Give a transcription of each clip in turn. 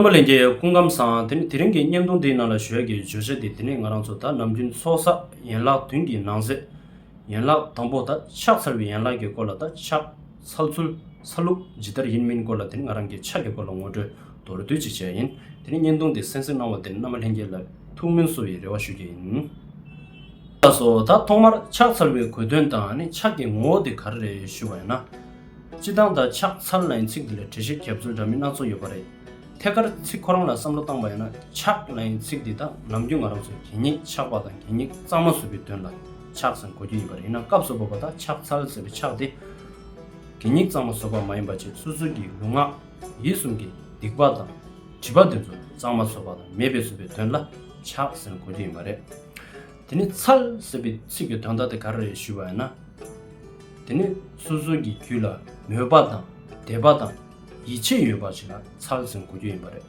རྣམ་པ་ལེན་གྱི་སྐུ་ཁམས་བཟང། དེ་ནི་དེ་རིང་གི་བརྙན་ཐུང་འདིའི་ནང་ལ་བཞོས་ཀྱི་བརྗོད་བྱ་འདི་དེ་ནི་ང་རང་ཚོ་དག་ནམ་རྒྱུན་ཚོགས་བསགས་ཡན་ལག་བདུན་གྱི་ནང་གསེས་ཡན་ལག་དང་པོ་དག་ཕྱག་འཚལ་བའི་ཡན་ལག་གི་སྐོར་ལ་དག་ཕྱག་འཚལ་ཚུལ་འཚལ་ལུགས་ཇི་ལྟར་ཡིན་མིན་སྐོར་ལ་དེ་ནི་ང་རང་གི་ཕྱག་གི་སྐོར་ལ་ངོ་སྤྲོད་མདོར་བསྡུས་ཅིག་བྱས་ཡིན་དེ་ནི་བརྙན་ཐུང་འདི་གསན་གཟིགས་གནང་བ་དེ་ནི་རྣམ་པ་ལྷན་རྒྱས་ལ་ཐུགས་སྨོན་བསུ་བའི་རེ་བ་ཞུ་རྒྱུ་ཡིན། ལགས་སོ། ད་ཐོག་མར་ཕྱག་འཚལ་བའི་གོ་དོན་དང་ནི་ཕྱག་གི་ངོ་བོ་དེ་ག་རེ་རེད་ཞུ་བ་ཡིན་ན། སྤྱི་བཏང་དང་ཕྱག་འཚལ་ལན་ཚིག་འདི་ལ་གྲལ་བཤེར་ཁྱབ་ཚུལ་འདྲ་མིན་སྣ་ཚོགས་ཡོད་པ་རེད། ཐད་ཀར་ཚིག་ཁོ་རང་ལ་བསམ་བློ་བཏང་པ་ཡིན་ན་ཕྱག་ལན་ཚིག་འདི་དག་ནམ་རྒྱུན་ང་རང་ཚོས་གད་སྙིགས་ཕྱགས་པ་དང་གད་སྙིགས་གཙང་མ་བཟོ་རྒྱུའི་དོན་ལ་ཕྱག་ཟེར་གོ་རྒྱུ་ཡིན་པ་རེད་ཡིན་ན་སྐབས་སུ་བབས་པ་དག་ཕྱག་འཚལ་ཟེར་བའི་ཕྱག་དེ་གད་སྙིགས་གཙང་མ་བཟོ་བ་མ་ཡིན་པ་བཅས་སོ་སོའི་གི་ལུས་ངག་ཡིད་གསུམ་གི་སྡིག་པ་དང་དྲི་པ་འདི་ཚོ་གཙང་མ་བཟོ་བ་དང་མེད་པའི་བཟོ་བའི་དོན་ལ་ཕྱག་ཟེར་གོ་རྒྱུ་ཡིན་པ་རེད། དེ་ནི་ཚལ་ཟེར་བའི་ཚིག་གི་དོན་དག་དེ་ག་རེ་རེད་ཞུས་པ་ཡིན་ན། དེ་ནི་སོ་སོ་གྱི་རྒྱུད་ལ་མོས་པ་དང་དད་པ་དང་ཡིད་ཆེས་ཡོད་པ་ཞིག་ལ་ཚལ་ཟེར་དགོས་རྒྱུ་ཡིན་པ་རེད།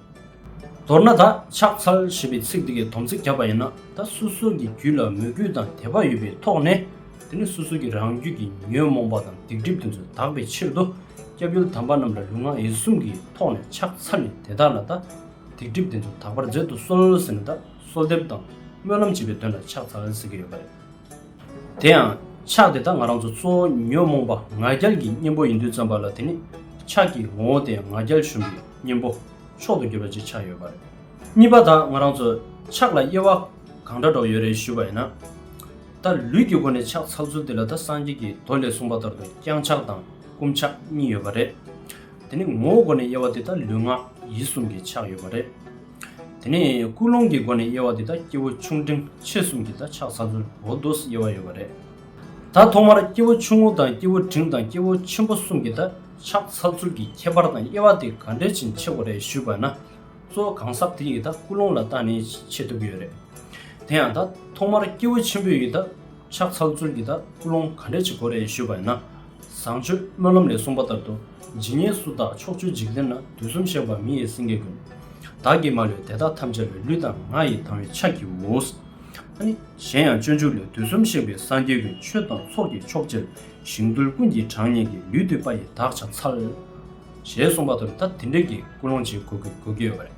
མདོར་ན་ད་ཆགས་ཚལ་ཞེས་པའི་ཚིག་དེ་གའི་དོམ་ཚིག་བརྒྱབ་པ་ཡིན་ན་ད་སོ་སོ་གྱི་རྒྱུད་ལ་མོས་གུས་དང་དད་པ་ཡོད་པའི་ཐོག་ནས་དེ་ནི་སོ་སོ་གྱི་རང་རྒྱུད་ཀྱི་ཉོན་མོངས་པ་དང་སྡིག་སྒྲིབ་དེ་ཚོ་དག་པའི་ཕྱིར་དུ་སྐྱབས་ཡུལ་དམ་པ་རྣམས་ལ་ལུས་ངག་ཡིད་གསུམ་གྱི་ཐོག་ནས་ཕྱག་འཚལ་ནས་དེ་དག་ལ་ད་སྡིག་སྒྲིབ་དེ་ཚོ་དག་པར་མཛད་དུ་གསོལ་ཟེར་ན་ད། གསོལ་འདེབས་དང་སྨོན་ལམ་བྱེད་པའི་དོན་ལ་ཕྱག་འཚལ་ཟེར་གྱི་ཡོད་པ་རེད། དེ་ཡང་ཕྱག་དེ་དག་ང་རང་ཚོ་གཙོ་བོ་ཉོན་མོངས་པ་ང་རྒྱལ་གྱི་གཉེན་པོ་ཡིན་དུས་བརྩམས་པ་ལ་དེ་ནི་ཕྱག་གི་ངོ་བོ་སྟེ་ང་རྒྱལ་གཞོམ་པའི་གཉེན་པོ་མཆོག་ཏུ་གྱུར་པ་ཅིག་ཆགས་ཡོད་པ་རེད། གཉིས་པ་དག་ང་རང་ཚོ་ཕྱག་ལ་དབྱེ་བ་གང་འདྲ་འགྲོ་ཡོད་རེད་ཞུས་པ་ཡིན་ན། ད་ལུས་ཀྱི་སྒོ་ནས་ཕྱག་འཚལ་ཚུལ་དེ་ལ་ད་སངས་རྒྱས་ཀྱི་མདོ་ལས་གསུངས་པ་ལྟར་དུ་བརྐྱང་ཕྱག་དང་བསྐུམ་ཕྱག་གཉིས་ཡོད་པ་རེད། དེ་ནི་ངོ་བོ་སྒོ་ནས་དབྱེ་བ་དེ་ད་ལུས་ངག་ཡིད་གསུམ་གྱི་ཕྱག་ཡོད་པ་རེད། དེ་ནས་ཀུན་སློང་གི་སྒོ་ནས་དབྱེ་བ་འདི་དག་སྐྱེ་བོ་ཆུང་འབྲིང་ཆེ་གསུམ་གྱི་ད་ཆགས་ས་ཚུལ་འོ་དོ་སི་དབྱེ་བ་ཡོད་པ་རེད། ད་ཐོག་མར་སྐྱེ་བོ་ཆུང་ངུ་དང་སྐྱེ་བོ་འབྲིང་དང་སྐྱེ་བོ་ཆེན་པོ་གསུམ་གྱི་ད་ཆགས་ས་ཚུལ་གྱི་ཁྱད་པར་དང་དབྱེ་བ་དེ་ག་འདྲའི་ཕྱིན་ཆེ་བ་རེད་ཞུས་པ་ན། གཙོ་བོ་གང་ཟག་དེ་ཡི་ད་ཀུན་སློང་ལ་བརྟགས་ནས་ཕྱེ་ཐུབ་ཀྱི་ཡོད་རེད། དེ་ཡང་ད་ཐོག་མར་སྐྱེ་བོ་ཆེན་པོའི་ཡི་ད། ཕྱག་འཚལ་ཚུལ་གྱི་དང་སྐུལ་སློང་ག་འདྲས་བྱེད་དགོས་རེད་ཞུས་པ་ཡིན་ན། བཟང་སྤྱོད་སྨོན་ལམ་ལས་གསུངས་པ་ལྟར་དུ་ཇི་སྙེད་སུ་དག་ཕྱོགས་བཅུའི་འཇིག་རྟེན་ན་དུས་གསུམ་གཤེགས་པ་མི་ཡི་སེང་གེ་ཀུན། བདག་གིས་མ་ལུས་དེ་དག་ཐམས་ཅད་ལས་ལུས་དང་ངག་ཡིད་དང་བའི་ཕྱག་གིའོ། ཨ་ནི་གཞན་ཡང་སྤྱོད་འཇུག་ལས་དུས་གསུམ་གཤེགས་པའི་སངས་རྒྱས་ཀུན་ཆོས་དང་ཚོགས་ཀྱི་མཆོག་ཅེར་ཞིང་དུལ་ཀུན་གྱི་གྲངས་སྙེད་ཀྱི་ཡུལ་དུལ་པ་ཡི་དྭགས་ཕྱག་འཚལ། ཞེས་གསུངས་པ་ལྟར་ད་དེ་འདྲས་ཀྱི་སྐུལ་སློང་བྱེད་དགོས་ཀྱི་ཡོད་པ་རེད།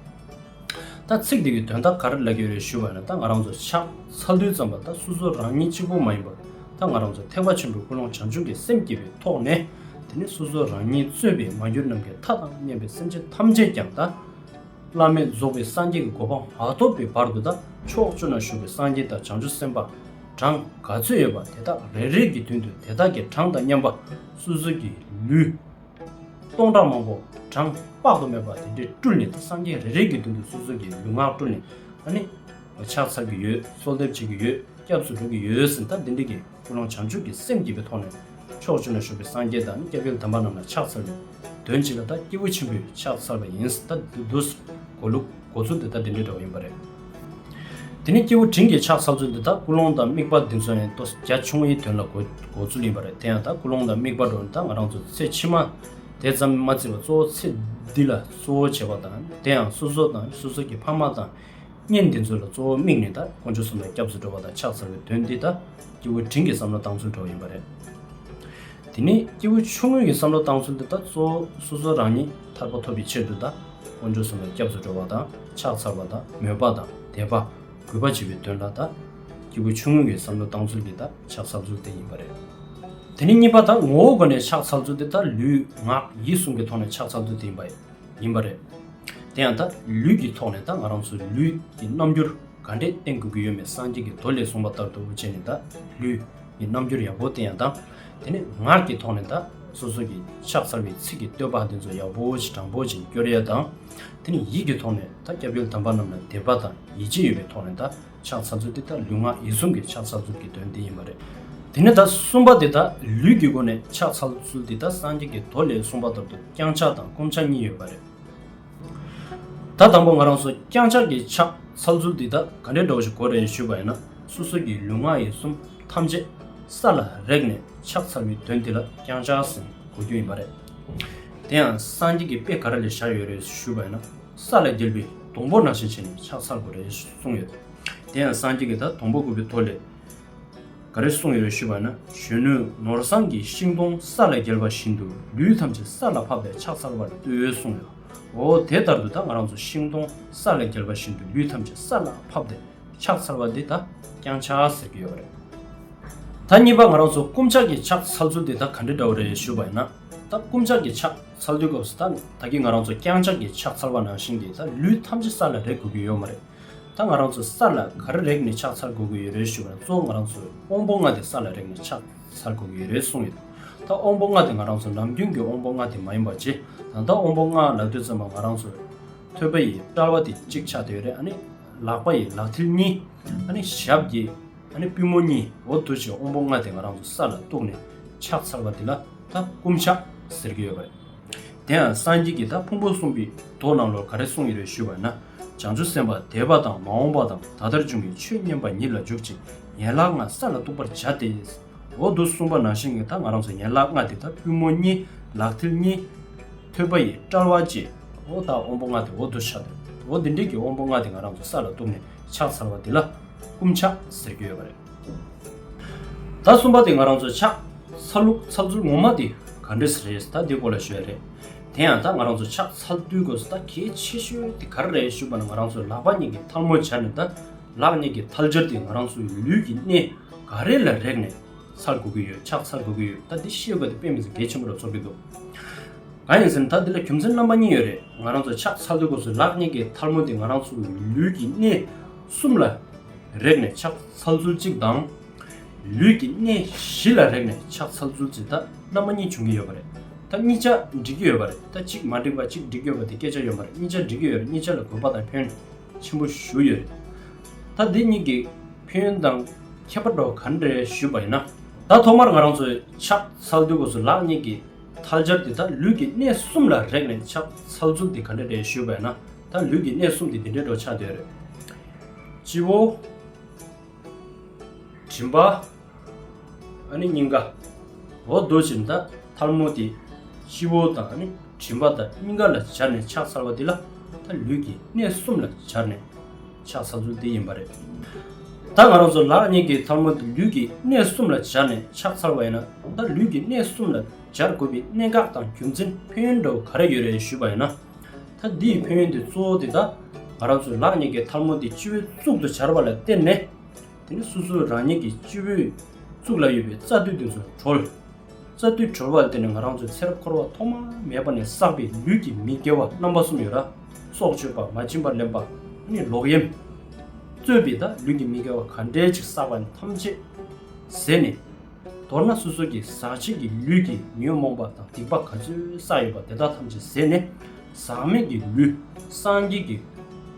ད་ཚིག་འདི་གི་དོན་ད་ག་རེ་ལབ་ཀྱི་རེད་ཞུས་པ་ནི་ད་ང་རང་ཚོ་ཕྱག་འཚལ་དུས་ཙམ་ལ་ད་སུ་སུ་རང་ཉིད་གཅིག་པོ་མ་ཡིན་པར་ད་ང་རང་ཚོ་ཐེག་པ་ཆེན་པོའི་ཀུན་སློང་བྱང་ཆུབ་ཀྱི་སེམས་བསྐྱེད་པའི་ཐོག་ནས་དེ་ནས་སོ་སོ་རང་ཉིད་རྩོད་པའི་མ་གྱུར་ནམ་མཁའི་མཐའ་དང་གཉེན་པའི་སེམས་ཅན་ཐམས་ཅད་ཀྱང་ད། བླ་མེད་རྫོགས་པའི་སངས་རྒྱས་ཀྱི་གོ་འཕང་མ་ཐོབ་པའི་བར་དུ་ད་ཕྱོགས་བཅུ་ན་བཞུགས་པའི་སངས་རྒྱས་དང་བྱང་ཆུབ་སེམས་དཔའ་གྲངས་ག་ཚོད་ཡོད་པ་དེ་དག་རེ་རེ་གྱི་མདུན་དུ་དེ་དག་གི་གྲངས་དང་མཉམ་པ་སོ་སོ་གྱི་ལུས། སྟོང་ཕྲག་མང་པོ་གྲངས་དཔག་ཏུ་མེད་པ་དེ་འདྲས་སྤྲུལ་ནས་སངས་རྒྱས་རེ་རེ་གི་མདུན་དུ་སོ་སོ་གིས་ལུས་ངག་བཀྲུ་ནས་ཨ་ནི། ཕྱག་འཚལ་གྱི་ཡོད་གསོལ་འདེབས་བྱེད་ཀྱི་ཡོད་སྐྱབས་སུ་འགྲོ་གི་ཡོད་ཟེར་ད་དེ་འདྲས་ཀྱི་ཀུན་སློང་བྱང་ཆུབ་ཀྱི་སེམས་བསྐྱེད་པའི་ཐོག་ནས། ཕྱོགས་བཅུ་ན་བཞུགས་པའི་སངས་རྒྱས་དང་སྐྱབས་ཡུལ་དམ་པ་རྣམས་ལ་ཕྱག་འཚལ་ལོ། དོན་ཇི་ལ་ད་སྐྱེས་བུ་ཆེན་པོས་ཕྱག་འཚལ་བ་ཡིན་ཟེར་ད་འདུག་གོ་ལུགས་གོ་ཚུལ་དེ་ད་དེ་འདྲས་འདྲ་བ་ཡིན་པ་རེད། དེ་ནི་སྐྱེས་བུ་དྲིན་གྱིས་ཆགས་ཚར་ཚུལ་འདི་དག་ཀུན་སློང་དང་དམིགས་པ་འདི་ཚོ་ནི་ལྟོ་ས་རྒྱ་ཆུང་བའི་དོན་ལ་གོ་ཚུལ་ཡིན་པ་རེད་དེ་ཡང་དག་ཀུན་སློང་དང་དམིགས་པ་འགྲོ་འདི་དག་ང་རང་ཚོ་ཚེ་ཕྱི་མ་དེ་ཙམ་མ་བརྩི་བར་གཙོ་བོ་ཚེ་འདི་ལ་གཙོ་བོ་བྱེད་པ་དང་དེ་ཡང་སོ་སོ་དང་སོ་སོ་གྱི་ཕ་མ་དང་གཉེན་འདི་ཚོ་ལ་གཙོ་བོ་དམིགས་ནས་དག་ཀུན་ཆོས་གསུམ་ལ་སྐྱབས་སུ་འགྲོ་བ་དང་ཆགས་ཚར་བའི་དོན་འདི་དག་སྐྱེས་བུ་དྲིན་གྱིས་བསམ་བློ་བཏང་ཚུལ་འགྲོ་བ་ཡིན་པ་རེད། དེ་ནས་སྐྱེས་བུ་ཆུང་ངུ་ཡི་བསམ་བློ་བཏང་ཚུལ་འདི་དག་གཙོ་བོ་སོ་སོ་རང་ཉིད་ཐར་པ་ཐོབ་པའི་ཕྱིར་དུ་དང་དཀོན་མཆོག་གསུམ་ལ་སྐྱབས་སུ་འགྲོ་བ་དང་ཕྱག་འཚལ་བ་དང་མོས་པ་དང་དད་པ། གུས་པ་བྱེད་པའི་དོན་ལ་དང། སྐྱེས་བུ་ཆུང་ངུ་ཡི་བསམ་བློ་བཏང་ཚུལ་འདི་དག་ཕྱག་འཚལ་ཚུལ་དེ་ཡིན་པ་རེད། དེ་ནས་གཉིས་པ་དང་ངོ་བོའི་སྒོ་ནས་ཕྱག་འཚལ་ཚུལ་འདི་དག་ལུས་ངག་ཡིད་གསུམ་གྱི་ཐོག་ནས་ཕྱག་འཚལ་ཚུལ་དེ་ཡིན་པ་ཡིན་པ་རེད། དེ་ཡང་དང་ལུས་ཀྱི་ཐོག་ནས་དང་ང་རང་ཚོའི་ལུས་ཀྱི་རྣམ་འགྱུར་ག་འདྲས་བསྟན་དགོས་ཀྱི་ཡོད་མེད་སངས་རྒྱས་ཀྱི་མདོ་ལས་གསུངས་པ་ལྟར་དུ་བྱས་ནས་དང་ལུས། གི་རྣམ་འགྱུར་ཡག་པོ་བསྟན་ཡང་དང། དེ་ནས་ངག་གི་ཐོག་ནས་དང་སོ་སོ་གིས་ཕྱག་འཚལ་བའི་ཚིག་གི་བསྟོད་པ་འདི་ཚོ་ཡག་པོ་ཞིག་དྲང་པོ་ཞིག་བསྐྱོར་ཡས་དང། དེ་ནས་ཡིད་ཀྱི་ཐོག་ནས་དང་སྐྱབས་ཡུལ་དམ་པ་རྣམས་ལ་དད་པ་དང་ཡིད་ཆེས་ཡོད་པའི་ཐོག་ནས་དང་ཕྱག་འཚལ་ཚུལ་དེ་དང་ལུས་ངག་ཡིད་གསུམ་གྱི་ཕྱག་འཚལ་ཚུལ་གྱི་དོན་དེ་ཡིན་པ་རེད། དེ་ནས་དང་གསུམ་པ་དེ་དང་ལུས་ཀྱི་སྒོ་ནས་ཕྱག་འཚལ་ཚུལ་དེ་དང་སངས་རྒྱས་ཀྱི་མདོ་ལས་གསུངས་པ་ལྟར་དུ་བརྐྱང་ཕྱག་དང་བསྐུམ་ཕྱག་གཉིས་ཡོད་པ་རེད། ད་དང་པོ་ང་རང་ཚོ་རྐྱང་ཆགས་ཀྱི་ཕྱག་ཚ་ལུ་ཙུལ་འདི་དག་ག་འདྲའི་འགྲོ་བ་ཞིག་གོ་རེ་ཞུས་པ་ཡིན་ན་སོ་སོ་ཀྱི་ལུས་ངག་ཡིད་གསུམ་ཐམས་ཅད་ས་ལ་རེག་ནས་ཕྱག་ཚར་བའི་དོན་འདི་ལ་རྐྱང་ཆགས་ཟིན་གོ་རྒྱུ་ཡིན་པ་རེད། དེ་ཡང་སངས་རྒྱས་ཀྱི་དཔེ་ག་རེ་ལས་ཤར་ཡོད་རེ་ཞུས་པ་ཡིན་ན་ས་ལ་བརྒྱལ་བའི་དུང་ཕོར་ནང་བཞིན་བྱས་ནས་ཕྱག་ཚར་དགོས་རེ་གསུངས་ཡོད། དེ་ཡང་སངས་རྒྱས་ཀྱིས་ད་དུང་པོ་དགོས་པའི་དོ་ལས། ག་རེ་གསུངས་ཡོད་ཞུས་པ་ན་གཞོན་ནུ་ནོར་བཟང་གིས་ཤིང་སྡོང་ས་ལ་བསྒྱེལ་བ་བཞིན་དུ་ལུས་ཐམས་ཅད་ས་ལ་ཕབ་པས་ཕྱག་འཚལ་བར་འདོད་འོས་གསུངས་ཡོད། འོ་དེ་ལྟར་དུ་ད་ང་རང་ཚོ་ཤིང་སྡོང་ས་ལ་བསྒྱེལ་བ་བཞིན་དུ་ལུས་ཐམས་ཅད་ས་ལ་ཕབ་སྟེ་ཕྱག་འཚལ་བ་འདི་ད་རྐྱང་ཆ་ཟེར་གྱི་ཡོད་པ་རེད། ད་གཉིས་པ་ང་རང་ཚོ་སྐུ་འཕྱག་གི་ཕྱག་འཚལ་ཚུལ་དེ་ད་ག་འདྲ་འདྲ་བོ་རེད་ཞུས་པ་ན་ད་སྐུ་འཕྱག་གི་ཕྱག་འཚལ་དུས་སྐབས་སུ་ད་ད་གིས་ང་རང་ཚོ་རྐྱང་ཕྱག་གི་ཕྱག་འཚལ་བ་ནང་བཞིན་གྱིས་ད་ལུས་ཐམས་ཅད་ས་ལ་རེག་དགོས་ཀྱི་ཡོད་མ་རེད། ད་ང་རང་ཚོ་ས་ལ་གར་རེག་ནས་ཕྱག་འཚལ་དགོས་ཀྱི་ཡོད་རེད་ཞུ་བ་ལ་གཙོ་བོ་ང་རང་ཚོས་དབོན་པོ་ལྔ་དེ་ས་ལ་རེག་ནས་ཕྱག་འཚལ་དགོས་ཀྱི་ཡོད་རེད་གསུངས་ཡོད། ད་དབོན་པོ་ལྔ་དེ་ང་རང་ཚོ་ནམ་རྒྱུན་གྱི་དབོན་པོ་ལྔ་དེ་མ་ཡིན་པར་རྗེ་ད་ལྟ་དབོན་པོ་ལྔ་ལབ་དུས་ཙམ་པ་ང་རང་ཚོས་ཐོད་པ་ཡི་དཔྲལ་བ་དེ་གཅིག་ཕྱག་དེ་ཡོད་རེད་ཨ་ནི་ལག་པ་ཡི་ལག་མཐིལ་གཉིས་ཨ་ནི་ཞབས་གྱི་ཨ་ནི་པུས་མོ་གཉིས་འོ་དུ་ཅིག་དབོན་པོ་ལྔ་དེ་ང་རང་ཚོ་ས་ལ་གཏུགས་ནས་ཕྱག་འཚལ་བ་དེ་ལ་ད་སྐུ་འཕྱག་ཟེར་གྱི་ཡོད་པ་རེད། དེའང་སངས་རྒྱས་ཀྱི་བདག་ཕུང་པོ་གསུངས་པའི་མདོ་རྣམས་ལོ་ག་རེ་གསུངས་ཡོད་རེ་ཞུས་པ་ན་བྱང་ཆུབ་སེམས་དཔའ་འདས་པ་དང་མ་འོངས་པ་དང་ད་ལྟར་འབྱུང་བའི་ཆོས་མཉན་པ་ཉིད་ལ་འཇུག་ཅིང་ཡན་ལག་ལྔ་ས་ལ་གཏུགས་པར་བྱ་སྟེ། འོག་ཏུ་གསུངས་པ་ནང་བཞིན་གྱི་ད་ང་རང་སོགས་ཡན་ལག་ལྔ་དེ་དག་པུས་མོ་གཉིས་ལག་མཐིལ་གཉིས། ཐོད་པ་ཡི་དཔྲལ་བ་བཅས་འོག་དང་དབང་པོ་ལྔ་དེ་འོག་ཏུ་བཞག་སྟེ་འོག་འདི་འདྲིལ་གྱི་དབང་པོ་ལྔ་དེ་ང་རང་ཚོ་ས་ལ་གཏུགས་ནས་ཕྱག་འཚལ་བ་འདི་ལ་བསྐུམ་ཕྱག་ཟེར་རྒྱུ་ཡོད་པ་རེད། ད་གསུམ་པ་དེ་ང་རང་ཚོ་ཆགས་ཚར་ལུགས་ཚར་ཚུལ་ངོ་མ་དེ་ག་འདྲི་ས་རེད་ད་དེ་སྐོར་ལ་ཤོད་རེད་དེ་ཡང་ད་ང་རང་ཚོ་ཆགས་ཚར་དུས་དགོས་ས་ད་གལ་ཆེ་ཤོས་དེ་ག་རེ་རེད་ཞུས་པ་ན་ང་རང་ཚོས་ལག་པ་གཉིས་ཀྱི་ཐལ་མོ་སྦྱར་ནས་ད་ལག་གཉིས་ཀྱི་ཐལ་སྦྱར་དེ་ང་རང་ཚོའི་ལུས་ཀྱི་གནས་ག་རེ་ལ་རེག་ནས་ཚར་དགོས་ཀྱི་ཡོད་ཆགས་ཚར་དགོས་ཀྱི་ཡོད་ད་འདི་ཤེས་དགོས་དེ་དཔེ་མི་ཚེ་གལ་ཆེན་པོ་རུ་ཚོར་གྱི་འདུག་གང་ཡིན་ཟེར་ན་ད་འདི་ལ་རྒྱུ་མཚན་རྣམ་པ་གཉིས་ཡོད་རེད་ང་རང་ཚོ་ཆགས་ཚར་དུས་དགོས་ས་ལག་གཉིས་ཀྱི་ཐལ་མོ་དེ་ང་རང་ཚོའི་ལུས་ཀྱི་གནས་གསུམ་ལ། རེག་ནས་ཕྱག་འཚལ་ཚུལ་གཅིག་དང། ལུས་ཀྱི་གནས་བཞི་ལ་རེག་ནས་ཕྱག་འཚལ་ཚུལ་གཅིག་ད་རྣམ་པ་གཉིས་འབྱུང་གི་ཡོད་པ་རེད་ད་གཉིས་ཆ་འགྲིག་གི་ཡོད་པ་རེད་ད་གཅིག་མ་འགྲིག་པ་གཅིག་འགྲིག་ཡོད་པ་དེ་སྐད་ཆ་ཡོད་མ་རེད་གཉིས་ཆ་འགྲིག་གི་ཡོད་རེད་གཉིས་ཆ་ལ་དགོས་པ་དང་ཕན་ཆེན་པོ་ཞུ་ཡོད་རེད་ད་འདི་གཉིས་ཀྱི་ཕན་ཡོན་དང་ཁྱད་པར་འགྲོ་ག་འདྲེ་ཞུས་པ་ཡིན་ན། ད་ཐོག་མར་ང་རང་ཚོས་ཕྱག་འཚལ་དུས་སྒོ་སུ་ལག་གཉིས་ཀྱི་ཐལ་སྦྱར་ཏེ་ད་ལུས་ཀྱི་གནས་གསུམ་ལ་རེག་ནས་ཕྱག་འཚལ་ཚུལ་དེ་ག་འདྲེ་རེད་ཞུས་པ་ཡིན་ན་ད་ལུས་ཀྱི་གནས་གསུམ་དེ་འདི་འདྲེ་འགྲོ་ཆགས་འདོད་རེད། སྤྱི་བོ། མགྲིན་པ། ཨ་ནི་སྙིང་ག། འོག་རྡོ་རྗེ་མཐའ་ཐལ་མོ་སྟེ། སྤྱི་བོ་དང་ཨ་ནི་མགྲིན་པ་དང་སྙིང་ག་ལ་སྦྱར་ནས་ཕྱག་འཚལ་བ་འདི་ལ་ད་ལུས་ཀྱི་གནས་གསུམ་ལ་སྦྱར་ནས་ཕྱག་འཚལ་ཚུལ་འདི་ཡིན་པ་རེད། ད་ང་རང་ཚོ་ལག་གཉིས་ཀྱི་ཐལ་མོ་འདི་ལུས་ཀྱི་གནས་གསུམ་ལ་སྦྱར་ནས་ཕྱག་འཚལ་བ་ཡིན་ན་ད་ལུས་ཀྱི་གནས་གསུམ་ལ་སྦྱར་དགོས་པའི་གནད་འགག་དང་རྒྱུ་མཚན་ཕན་ཡོན་འདྲ་བོ་ག་རེ་ཡོད་རེད་ཞུས་པ་ཡིན་ན། ད་འདི་ཡི་ཕན་ཡོན་དེ་གཙོ་བོ་དེ་ད་ང་རང་ཚོས་ལག་གཉིས་ཀྱི་ཐལ་མོ་དེ་སྤྱི་བོའི་གཙུག་ཏུ་སྦྱར་བ་ལ་བརྟེན་ནས། དེ་ནས་སོ་སོའི་རང་ཉིད་ཀྱི་སྤྱི་བོའི་གཙུག་ལ་ཡོད་པའི་རྩ་མདུད་དེ་ཚོ་གྲོལ། རྩ་མདུད་གྲོལ་བ་ལ་བརྟེན་ནས་ང་རང་ཚོའི་ཚེར་འཁོར་བ་ཐོག་མ་མེད་པ་ནས་བསགས་པའི་ལུས་ཀྱི་མི་དགེ་བ་རྣམ་པ་གསུམ་ཡོད་ལ། སྲོག་གཅོད་པ་མ་བྱིན་པར་ལེན་པ་ནི་ལོག་གཡེམ། རྩོད་པའི་ད་ལུས་ཀྱི་མི་དགེ་བ་ག་འདྲའི་ཅིག་བསགས་པ་ནི་ཐམས་ཅད་ཟད་ནས། མདོར་ན་སོ་སོ་ཀྱི་ཟག་བཅས་ཀྱི་ལུས་ཀྱི་ཉོན་མོངས་པ་དང་སྡིག་པ་ག་ཚོད་བསགས་ཡོད་པ་དེ་དག་ཐམས་ཅད་ཟད་ནས་ཟག་མེད་ཀྱི་ལུས་སངས་རྒྱས་ཀྱི་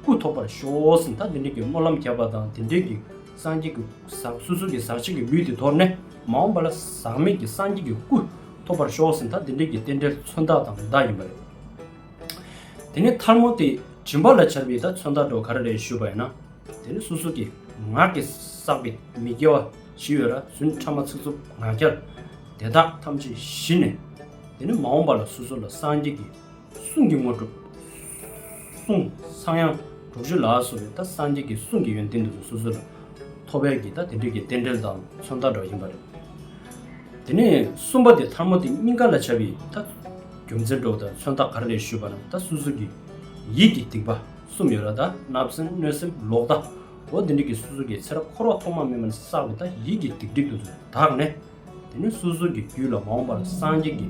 སྐུ་ཐོབ་པར་ཤོག་ཟིན་ད་དེ་འདྲས་ཀྱི་སྨོན་ལམ་བརྒྱབ་པ་དང་དེ་འདྲས་ཀྱི་སངས་རྒྱས་ཀྱི་ཟག་སོ་སོ་ཀྱི་ཟག་བཅས་ཀྱི་ལུས་དེ་དོར་ནས་མ་འོངས་པ་ལ་ཟག་མེད་ཀྱི་སངས་རྒྱས་ཀྱི་སྐུ་ཐོབ་པར་ཤོག་ཟིན་ད་དེ་འདྲས་ཀྱི་རྟེན་འབྲེལ་མཚོན་རྟགས་དང་བརྡ་ཡིན་པ་རེད། དེ་ནས་མཐར་མོ་དེས་བྱིན་པ་ལ་བྱར་བས་ད་མཚོན་རྟགས་སྒྲོག་ག་རེ་རེད་ཞུས་པ་ཡིན་ན། དེ་ནི་སོ་སོ་ཀྱི་ངག་གིས་བསགས་པའི་མི་དགེ་བ། ཞི་བའི་ར་བཟུན་ཕྲ་མ་ཚིག་རྩུབ་ང་རྒྱལ་དེ་དག་ཐམས་ཅད་ཞི་ནས། དེ་ནས་མ་འོངས་པ་ལ་སོ་སོ་ལ་སངས་རྒྱས་ཀྱི་གསུང་གི་དངོས་གྲུབ། གསུང་སངས་དབྱངས་དྲུག་ཅུ་ལ་སོགས་པའི་ད་སངས་རྒྱས་ཀྱི་གསུང་གི་ཡོན་ཏན་དེ་ཚོ་སོ་སོ་ལ་ཐོབ་པས་ཀྱི་ད་དེ་འདྲས་ཀྱི་རྟེན་འབྲེལ་དང་མཚོན་རྟགས་སྒྲོག་བཞིན་པ་རེད། དེ་ནས་གསུམ་པ་དེ་ཐར་མོ་དེ་སྙིང་ག་ལ་བྱ་བའི་ད་རྒྱུ་མཚན་སྒྲོག་དང་མཚོན་རྟགས་ག་རེ་རེད་ཞུས་པ་ན་ད་སོ་སོ་ཀྱི་ཡིད་ཀྱི་སྡིག་པ་གསུམ་ཡོད་ལ་ད་བརྣབ་སེམས་གནོད་སེམས་ལོག་ལྟ། ལོ་འདི་འགྲིག་གི་སོ་སོ་གི་ཚེ་རབས་འཁོར་བ་ཐོག་མ་མེད་མ་ནས་བསགས་པའི་དག་ཡིད་ཀྱི་སྡིག་སྒྲིབ་དུ་དག་ནས། དེ་ནས་སོ་སོ་གི་རྒྱུད་ལ་མ་འོངས་པར་སངས་རྒྱས་ཀྱི་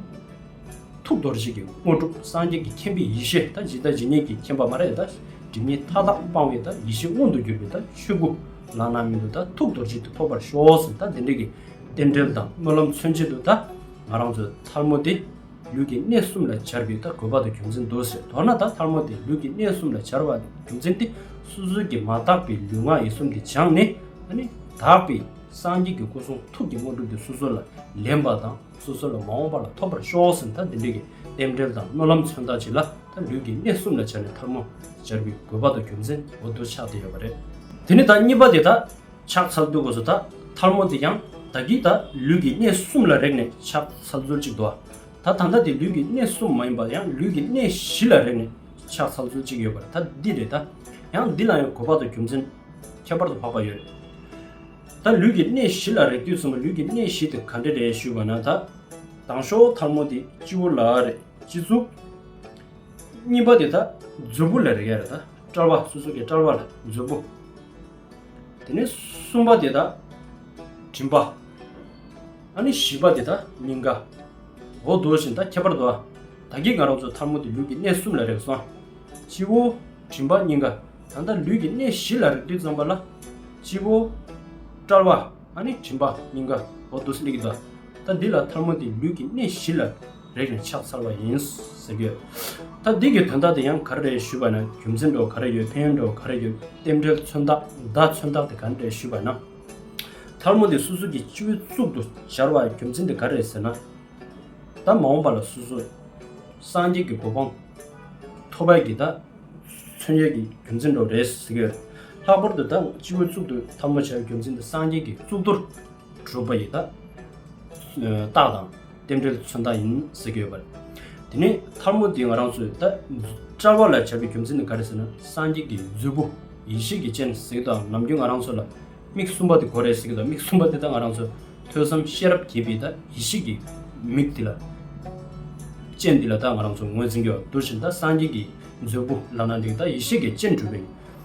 ཐུགས་རྡོ་རྗེ་གི་དངོས་གྲུབ་སངས་རྒྱས་ཀྱི་མཁྱེན་པའི་ཡེ་ཤེས་དང་ཇི་ལྟ་ཇི་སྙེད་ཀྱི་མཁྱེན་པ་མ་རེད་དང་སྒྲིབ་གཉིས་མཐའ་དག་སྤང་བའི་དང་ཡེ་ཤེས་མངོན་དུ་གྱུར་པའི་དང་ཆོས་སྐུ་བླ་ན་མེད་དུ་དང་ཐུགས་རྡོ་རྗེ་དུ་ཐོབ་པར་ཤོག་ཟེར་དང་འདི་འགྲིག་གི་རྟེན་འབྲེལ་དང་སྨོན་ལམ་མཚོན་བྱེད་དུ་དང་ང་རང་ཚོའི་མཐར་མོ་དེ། ལུས་ཀྱི་གནས་གསུམ་ལ་བྱར་བུའི་ཐ་གུ་བ་ཏུ་རྒྱུ་མཚན་འདུག་ཟེར་མདོར་ན་ད་ལྷ་མོ་དེ་ལུས་ཀྱི་གནས་གསུམ་ལ་བྱར་བ་རྒྱུ་མཚན་ཏེ་སོ་སོའི་གྱི་མ་དག་པའི་ལུས་ངག་ཡིད་གསུམ་དེ་སྦྱངས་ནས་ནི། དག་པའི་སངས་རྒྱས་ཀྱི་སྐུ་གསུང་ཐུགས་ཀྱི་དངོས་གྲུབ་དེ་སོ་སོ་ལ་ལེན་པ་དང་སོ་སོ་ལ་མ་འོངས་པ་ལ་ཐོབ་པར་ཤོག་ཟེར་ནས་ད་འདི་འདྲ་གི་རྟེན་འབྲེལ་དང་སྨོན་ལམ་མཚོན་རྟགས་བྱས་ལ་ད་ལུས་ཀྱི་གནས་གསུམ་ལ་བྱར་ནས་ཐར་མོ་བྱར་བུའི་གུ་བ་ཏུ་རྒྱུ་མཚན་འོ་དོ་ཆགས་ཏེ་ཡོད་པ་རེད། དེ་ནི་ད་གཉིས་པ་དེ་ད། ཕྱག་འཚལ་བསྟོད་དགོས་སོ་ད་ཐལ་མོ་དེ་ཀྱང་བདག་གིས་ད་ལུས་ཀྱི་གནས་གསུམ་ལ་རེག་ནས་ཕྱག་འཚལ་སྩོལ་ཅིག་དུ་ད་ད་ལྟ་དེ་ལུས་ཀྱི་གནས་གསུམ་མ་ཡིན་པ་ཡང་ལུས་ཀྱི་གནས་བཞི་ལ་རེག་ནས་ཕྱག་འཚལ་སྩོལ་ཅིག་ཡོད་པར་ད་འདི་རེད་ད་ཡང་འདི་ལ་ཡང་གོ་འཕགས་དང་རྒྱུ་མཚན་ཁྱད་པར་དུ་འཕགས་པ་ཡོད་རེད། ད་ལུས་ཀྱི་གནས་བཞི་ལ་རེག་དུས་གསུམ་པོ་ལུས་ཀྱི་གནས་བཞི་དེ་ག་འདྲ་རེད་ཞུས་པ་ན་ད་དང་ཤོག་ཐལ་མོ་དེ་སྤྱི་བོ་ལ་རེག་སྤྱི་གཙུག། གཉིས་པ་དེ་ད་མཛོད་སྤུ་ལ་རེག་ཡ་རེད་ད་སྐྲར་བ་སོ་སོ་ཀའི་སྐྲར་བ་ལ་མཛོད་སྤུ། དེ་ནས་གསུམ་པ་དེ་དག་མགྲིན་པ། ཨ་ནི་བཞི་པ་དེ་དག་སྙིང་ག། འོ་དོ་བཞིན་ད་ཁྱད་པར་དུ་ཨ། ད་ཀྱིས་ང་རང་ཚོ་ཐར་མོ་དེ་ལུས་ཀྱི་གནས་གསུམ་ལ་རེག་སོང། སྤྱི་བོ། མགྲིན་པ་སྙིང་ག། ད་ད་ལུས་ཀྱི་གནས་བཞི་ལ་རེག་དུས་ཙམ་པ་ལ། སྤྱི་བོ། དཔྲལ་བ། ཨ་ནི་མགྲིན་པ་སྙིང་ག། འོ་དོ་སླེ་གི་དོ་ཨ། ད་འདི་ལ་ཐར་མོ་དེ་ལུས་ཀྱི་གནས་བཞི་ལ། རེག་ནས་ཕྱག་འཚལ་བ་ཡིན། ཟེར་གྱི། ད་འདི་གི་དོན་དག་དེ་ཡང་ག་རེ་རེད་ཞུས་པ་ན་རྒྱུ་མཚན་འགྲོ་ག་རེ་ཡོད་ཕན་ཡོན་འགྲོ་ག་རེ་ཡོད་རྟེན་འབྲེལ་མཚོན་རྟགས་བརྡ་མཚོན་རྟགས་དེ་ག་རེ་རེད་ཞུས་པ་ན། ཐལ་མོ་འདི་སོ་སོ་གྱི་སྤྱི་བོའི་གཙུག་ཏུ་སྦྱར་བ་རྒྱུ་མཚན་དེ་ག་རེ་རེད་ཟེར་ན། ད་མ་འོངས་པ་ལ་སོ་སོ་སངས་རྒྱས་ཀྱི་གོ་འཕང་ཐོབ་པའི་གྱི་ད་མཚོན་བྱེད་ཀྱི་རྒྱུ་མཚན་འགྲོ་རེད་ཟེར་གྱི། ལྷག་པར་དུ་ད་སྤྱི་བོའི་གཙུག་ཏུ་ཐལ་མོ་སྦྱར་བའི་རྒྱུ་མཚན་དེ་སངས་རྒྱས་ཀྱི་གཙུག་ཏོར་གྲུབ་པ་ཡི་དྭགས་དང་རྟེན་འབྲེལ་མཚོན་རྟགས་ཡིན་ཟེར་གྱི་ཡོད་པ་རེད། དེ་ནས་ཐར་མོ་འདི་ང་རང་ཚོས་ད་བཀྲལ་བ་ལ་བྱ་བའི་རྒྱུ་མཚན་ནི་ག་རེ་ཟེར་ན་སངས་རྒྱས་ཀྱི་མཛོད་སྤུ་ཡེ་ཤེས་ཀྱི་སྤྱན་ཟེར་གྱི་དང་ནམ་རྒྱུན་ང་རང་ཚོ་ལ་མིག་གསུམ་པ་དེ་གོ་རེ་ཟེར་གྱི་དང་མིག་གསུམ་པ་དེ་དང་ང་རང་ཚོ་ཐོས་བསམ་ཤེས་རབ་རྒྱས་པའི་དང་ཡེ་ཤེས་ཀྱི་མིག་དེ་ལ་སྤྱན་དེ་ལ་དང་ང་རང་ཚོ་ངོས་འཛིན་གྱི་བ་འདུག་བཞིན་དང་སངས་རྒྱས་ཀྱི་མཛོད་སྤུ་ལག་ན་འདེགས་དང་ཡེ་ཤེས་ཀྱི་སྤྱན་གྲུབ་པའི།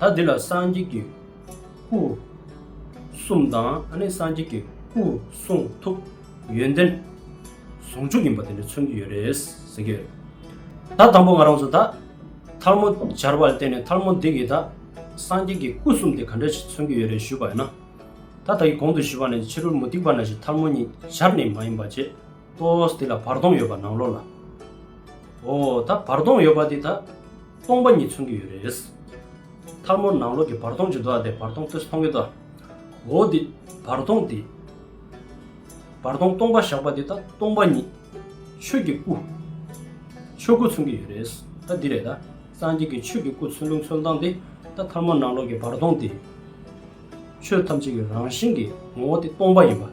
ད་འདི་ལ་སངས་རྒྱས་ཀྱི་སྐུ་གསུམ་དང་སངས་རྒྱས་ཀྱི་སྐུ་གསུང་ཐུགས་ཡོན་ཏན་ཟུང་འཇུག་ཡིན་པ་དེ་འདྲ་མཚོན་གྱི་ཡོད་རེད་ཟེར་གྱི་ཡོད། ད་དང་པོ་ང་རང་ཚོ་ད་ཐར་མོ་སྦྱར་བ་ལ་བརྟེན་ནས་ཐར་མོ་འདི་གིས་ད་སངས་རྒྱས་ཀྱི་སྐུ་གསུམ་དེ་ག་འདྲ་ཞིག་མཚོན་གྱི་ཡོད་རེད་ཞུས་པ་ཡིན་ན། ད་ད་གི་གོང་དུ་ཞུས་པ་ནི་ཕྱི་རོལ་མུ་སྟེགས་པ་ན་ཞིག་ཐར་མོ་ཉིད་སྦྱར་ནས་མ་ཡིན་པ་ཅེས་ཏོའོ་སྟེ་ལ་བར་སྟོང་ཡོད་པ་ནང་ལོགས་ལ། འོ་ད་བར་སྟོང་ཡོད་པ་དེ་ད་སྟོང་པ་ཉིད་མཚོན་གྱི་ཡོད་རེད། མཐར་མོར་ནང་ལོགས་ཀྱི་བར་སྟོང་བྱུང་འདུག་ཨ་དེ་བར་སྟོང་ཕུས་མཐོང་གི་འདུག་ཨ། འོ་དེ་བར་སྟོང་དེ། བར་སྟོང་སྟོང་པ་བཞག་པ་དེ་ད་སྟོང་པ་ཉིད། ཆོས་ཀྱི་སྐུ། ཆོས་སྐུ་མཚོན་གྱི་ཡོད་རེད། ད་འདི་རེད་ད། སངས་རྒྱས་ཀྱི་ཆོས་ཀྱི་སྐུ་མཚོན་འདུག་མཚོན་སྟངས་དེ་ད་མཐར་མོར་ནང་ལོགས་ཀྱི་བར་སྟོང་དེ། ཆོས་ཐམས་ཅད་ཀྱི་རང་བཞིན་གྱི་ངོ་བོ་སྟེ་སྟོང་པ་ཡིན་པ།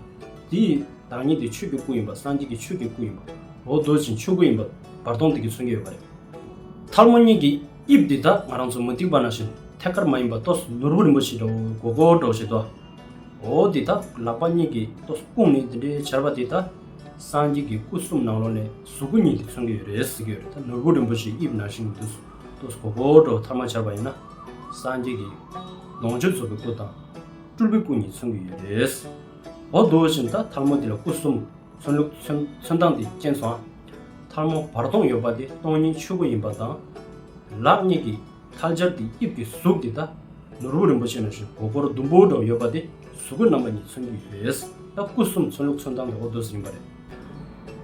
དེ་ཡི་བདག་ཉིད་དེ་ཆོས་ཀྱི་སྐུ་ཡིན་པ་སངས་རྒྱས་ཀྱི་ཆོས་ཀྱི་སྐུ་ཡིན་པ། འོ་བཟློག་ཅིང་ཆོས་སྐུ་ཡིན་པ་བར་སྟོང་དེ་ཀྱི་མཚོན་གྱི་ཡོད་པ་རེད། ཐལ་མོ་གཉིས་ཀྱི་དབྱིབས་འདི་དག་ང་རང་ཚོ་མུ་ཏིག་པ་ན་བཞིན་ཐད་ཀར་མ་ཡིན་པ་ལྟོས་ནོར་བུ་རིན་པོ་ཆེའི་འདྲ་བོ་གོ་གོ་སྒྲོག་བྱེད་དོ། འོ་འདི་དག་ལག་པ་གཉིས་ཀྱི་ལྟོས་སྐུང་ནས་འདི་འདྲའི་བྱར་བ་དེ་དག་སངས་རྒྱས་ཀྱི་སྐུ་གསུམ་ནང་ལོགས་ནས་གཟུགས་སྐུ་གཉིས་དེ་མཚོན་གྱི་ཡོད་རེད་ཟེར་གྱི་ཡོད་རེད་ད་ནོར་བུ་རིན་པོ་ཆེའི་དབྱིབས་ནང་བཞིན་དུ། ཏུ་གོ་བོར་འགྲོ་བ་ཐབས་མ་ཆག་པ་ཡིན་ན་སངས་རྒྱས་ཀྱི་ལོངས་སྤྱོད་རྫོགས་པའི་སྐུ་དང་སྤྲུལ་པའི་སྐུ་གཉིས་མཚོན་གྱི་ཡོད་རེད། འོ་བསྡུ་བ་བཞིན་ད་ཐར་མོ་འདི་ལ་སྐུ་གསུམ་མཚོན་ལུགས་མཚོན་སྟངས་དེ་མཁྱེན་སོང་ཨ། ཐར་མོ་བར་སྟོང་ཡོད་པ་དེ་སྟོང་ཉིད་ཆོས་སྐུ་ཡིན་པ་དང། ལག་གཉིས་ཀྱི་ཐལ་སྦྱར་དེ་དབྱིབས་ཀྱི་གཟུགས་དེ་ད་ནོར་བུ་རིན་པོ་ཆེ་ནང་བཞིན་གོ་བོར་ཟླུམ་པོ་འདྲ་བོ་ཡོད་པ་དེ་གཟུགས་སྐུ་རྣམ་པ་གཉིས་མཚོན་གྱི་ཡོད་རེད། ད་སྐུ་གསུམ་མཚོན་ལུགས་མཚོན་སྟངས་དེ་འོ་བསྡུ་ཟིན་པ་རེད།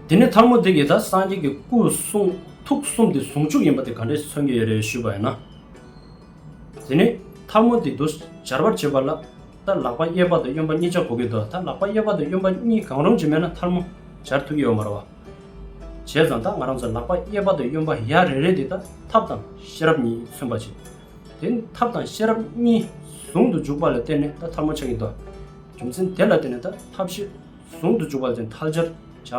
དེ་ནས་ཐར་མོ་དེ་གིས་ད་སངས་རྒྱས་ཀྱི་སྐུ་གསུང་ཐུགས་གསུམ་དེ་ཟུང་འཇུག་ཡིན་པ་དེ་ག་འདྲས་མཚོན་གྱི་ཡོད་རེད་ཞུས་པ་ཡིན་ན། དེ་ནས་ཐར་མོ་དེས་དུ་སྦྱར་བར་བྱེད་པ་ལ་ད་ལག་པ་གཡས་པ་དང་གཡོན་པ་གཉིས་སྦྱར་གོ་གི་འདུག་ད་ལག་པ་གཡས་པ་དང་གཡོན་པ་གཉིས་གང་རུང་ཅིག་མེད་ན་ཐར་མོ་སྦྱར་ཐུབ་ཀྱི་ཡོད་མ་རེད་བ། བྱས་ཙང་ད་ང་རང་ཚོས་ལག་པ་གཡས་པ་དང་གཡོན་པ་ཡ་རེ་རེ་དེ་ད་ཐབས་དང་ཤེས་རབ་གཉིས་མཚོན་པ་བྱེད། དེ་ཐབས་དང་ཤེས་རབ་གཉིས་ཟུང་དུ་འཇུག་པ་ལ་བརྟེན་ནས་ད་ཐར་མོ་ཆགས་ཀྱི་འདུག་རྒྱུ་མཚན་དེ་ལ་བརྟེན་ནས་ད་ཐབས་ཤེས། ཟུང་དུ་འཇུག་པ་དེ་མཐར་སྦྱར་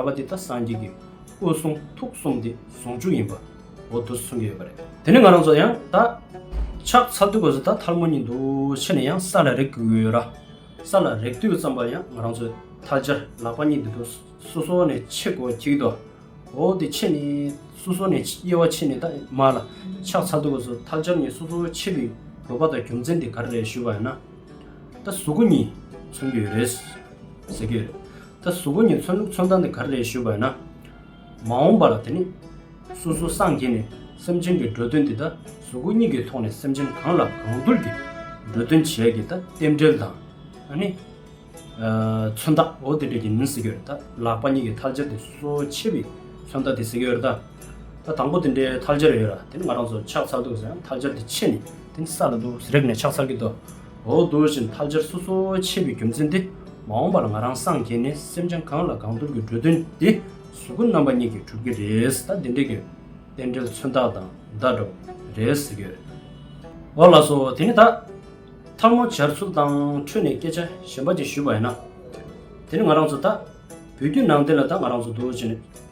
བྱ་བ་འདི་ལྟ་སངས་རྒྱས་ཀྱི་སྐུ་གསུང་ཐུགས་གསུམ་འདི་ཟུང་འཇུག་ཡིན་པའོ་དུ་གསུངས་ཀྱི་ཡོད་པ་རེད། དེ་ནས་ང་རང་ཚོ་ཡང་ད་ཆགས་ཚ་དུས་གོས་ད་ཐལ་མོ་གཉིད་འདུག་ཕྱི་ནས་ཡང་ས་ལ་རེག་གི་ཡོད་ར་ས་ལ་རེག་དུས་ཙམ་པ་ཡང་ང་རང་ཚོས་ད་སྦྱར་ལག་པ་གཉིད་འདུག་འདུག་སོ་སོ་ནས་ཕྱེ་གོ་གྱིས་ཏོ་འོ་དེ་ཕྱེ་ནས་སོ་སོ་ནས་དབྱེ་བ་ཕྱེ་ནས་ད་མ་ལ་ཆགས་ཚ་དུས་གོས་ད་སྦྱར་གཉིད་སོ་སོ་ཕྱེ་བའི་དགོས་པ་དང་རྒྱུ་མཚན་དེ་ག་རེ་རེད་ཞུས་པ་ཡིན་ན། ད་གཟུགས་པོ་གཉིས་མཚོན་རྒྱུ་ཡོད་རེད། ཟེར་གྱི་ཡོད། ད་གཟུགས་པོ་གཉིས་མཚོན་ལུགས་མཚོན་སྟངས་དེ་ག་རེ་རེད་ཞུས་པ་ཡིན་ན། མ་འོངས་པ་ལ་དེ་ནི། སོ་སོ་སངས་རྒྱས་ནས་སེམས་ཅན་གྱི་འགྲོ་དོན་དེ་ད་གཟུགས་པོ་གཉིས་ཀྱི་ཐོག་ནས་སེམས་ཅན་གང་ལ་གང་འདུལ་གྱི་འགྲོ་དོན་བྱས་ཀྱི་ད་རྟེན་འབྲེལ་དང། ཨ་ནི། མཚོན་རྟགས་འོ་དེ་འདྲ་གྱི་མིན་ཟེར་གྱི་ཡོད་རེད། ད་ལག་པ་གཉིས་ཀྱི་ཐལ་སྦྱར་དེ་སོ་སོའི་ཆེད་པའི་མཚོན་རྟགས་དེ་ཟེར་གྱི་ཡོད་རེད། ད་དང་པོ་དེ་འདྲའི་ཐལ་སྦྱར་ཡོད་ར་དེ་ནི་ང་རང་ཚོ་ཕྱག་འཚལ་འདུག་ཟེར་ཡང་ཐལ་སྦྱར་དེ་ཕྱེ་ནས་དེ་ནི་ས་ལ་འདུག་ཟེར་རེག་ནས་ཕྱག་འཚལ་གྱི་འདུག་འོ་དེ་བཞིན་ཐལ་སྦྱར་སོ་སོའི་ཕྱེ་བའི་རྒྱུ་མཚན་དེ་མ་འོངས་པ་ལ་ང་རང་སངས་རྒྱས་ནས་སེམས་ཅན་གང་ལ་གང་འདུལ་གྱི་འགྲོ་དོན་དེ་གཟུགས་སྐུ་རྣམ་པ་གཉིས་ཀྱིས་གྲུབ་ཀྱི་རེད་ད་དེ་འདྲའི་གི་རྟེན་འབྲེལ་མཚོན་རྟགས་དང་བརྡ་སྒྲོ་རེད་ཟེར་གྱི་རེད་འོ་ལགས་སོ་དེ་ནི་ད་ཐལ་མོ་སྦྱར་ཚུལ་དང་འཕྲོས་ནས་སྐད་ཆ་གཞན་པ་ཅིག་ཞུས་པ་ཡིན་ན་དེ་ནི་ང་རང་ཚོ་ད་བོད་བརྒྱུད་ནང་བསྟན་ལ་ད་ང་རང་ཚོ་འདུག་ཅེས་ནས།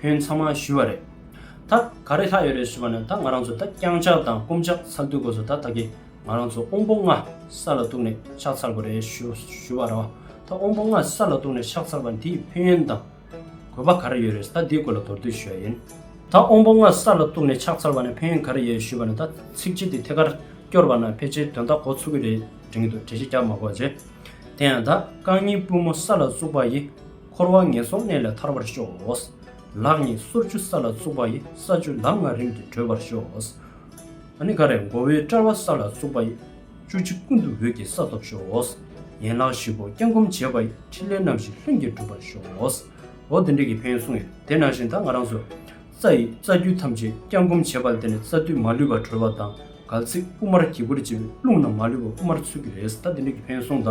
ཕོན་ཚང་མ་ཞུས་བ་རེད། ད་ག་རེ་ལྷག་ཡོད་རེད་ཞུས་པ་ནི་ད་ང་རང་ཚོ་ད་རྐྱང་ཕྱག་དང་སྐུམ་ཕྱག་ཚར་བསྡུ་དགོས་སོ་ད་ད་གི་ང་རང་ཚོ་དབོན་པོ་ལྔ་ས་ལ་གཏུགས་ནས་ཕྱག་ཚར་དགོས་རེད་ཞུས་བ་རེད། ད་དབོན་པོ་ལྔ་ས་ལ་གཏུགས་ནས་ཕྱག་ཚར་བ་འདིས་ཕན་ཡོན་དང། གོ་བ་ག་རེ་ཡོད་རེད་ད་འདིའི་སྐོར་ལ་མདོར་བསྡུས་ཞུས་བ་ཡིན། ད་དབོན་པོ་ལྔ་ས་ལ་གཏུགས་ནས་ཕྱག་ཚར་བ་ནས་ཕན་ཡོན་ག་རེ་ཡོད་ཞུས་པ་ནི་ད་ཚིགས་བཅད་འདི་ཐད་ཀར་སྐྱོར་བ་ན་ཕལ་ཆེར་དོན་དག་གོ་ཚུགས་ཀྱི་རེད་དྲན་གྱི་འདུག་གྲལ་བཤད་རྒྱག་མ་གོ་རྗེས། དེ་ཡང་ད་རྐང་གཉིས་པུས་མོ་ས་ལ་བཙུགས་པ་ཡི། འཁོར་བ་ངན་སོང་གནས་ལས་ཐར་བར་ཤོག། ལག་གཉིས་སོར་བཅུ་ས་ལ་བཙུགས་པ་ཡི་ས་བཅུ་ལམ་ལྔ་རིམ་གྱིས་བགྲོད་པར་ཤོག། ཨ་ནི་ཀ་རའི་མགོ་བོའི་དཔྲལ་བ་ས་ལ་བཙུགས་པ་ཡི་བཅུ་གཅིག་ཀུན་ཏུ་འོད་ཀྱི་ས་ཐོབ་ཤོག། ཡན་ལག་བཞི་པོ་བརྐྱང་བསྐུམ་བྱེད་པ་ཡི་ཕྲིན་ལས་རྣམ་བཞི་ལྷུན་གྱིས་གྲུབ་པར་ཤོག། འོ་དེ་འདྲའི་གྱི་ཕན་སོང་ཡིན་དེ་ནང་བཞིན་ད་ང་རང་ཚོས་རྩ་ཡི་རྩ་རྒྱུད་ཐམས་ཅད་བརྐྱང་བསྐུམ་བྱེད་པ་ལ་དེ་ནས་རྩ་མདུད་མ་ལུས་པ་གྲོལ་བ་དང་གལ་ཚིགས་དབུ་མར་གྱི་བུར་བྱས་པའི་རླུང་རྣམས་མ་ལུས་པ་དབུ་མར་ཚུད་ཀྱི་རེད་ད་དེ་འདྲའི་གྱི་ཕན་སོང་ད།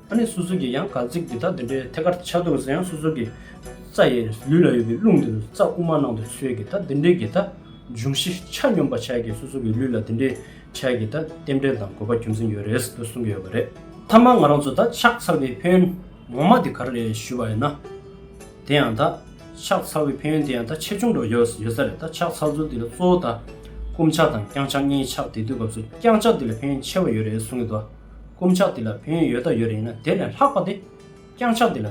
ཨ་ནི་སོ་སོ་གིས་ཡང་གར་ཚིག་འདི་དག་འདི་འདྲའི་ཐད་ཀར་ཆ་དུང་ས་ཡང་སོ་སོ་གི་རྩ་ཡི་ལུས་ལ་ཡོད་པའི་རླུང་འདི་རུ་རྩ་དབུ་མ་ནང་དུ་ཚུད་གི་ད་འདི་འདྲའི་གི་ད་འབྱུང་བཞི་ཆ་སྙོམས་པ་ཆ་གི་སོ་སོ་གི་ལུས་ལ་འདི་འདྲའི་ཆ་གི་ད་རྟེན་འབྲེལ་དང་དགོས་པ་རྒྱུ་མཚན་ཡོད་རེད་ཟེར་གསུང་གི་ཡོད་པ་རེད། མཐའ་མ་ང་རང་ཚོ་ད་ཕྱག་འཚལ་བའི་ཕན་ཡོན་ངོ་མ་དེ་ག་རེ་རེད་ཞུས་པ་ཡིན་ན། དེ་ཡང་ད་ཕྱག་འཚལ་བའི་ཕན་ཡོན་དེ་ཡང་ད་ཆེ་ཆུང་འགྲོ་ཡོད་ས་ཡོད་ས་རེད་ད་ཕྱག་འཚལ་ཚུལ་དེ་ལ་གཙོ་བོ་ད་སྐུ་འཕྱག་དང་རྐྱང་འཕྱག་གཉིས་ཆགས་དེ་དུས་སྐབས་སུ་རྐྱང་འཕྱག་དེ་ལ་ཕན་ཡོན་ཆེ་བ་ཡོད་རེད་གསུང་གི་འདུག། རྐུབ་ཆག་འདི་ལ་བུན་ཡོད་ད་ཡོད་རེད་ཡིན་ན་དེ་ལས་ལྷག་པ་དེ། རྐྱང་ཆག་འདི་ལ་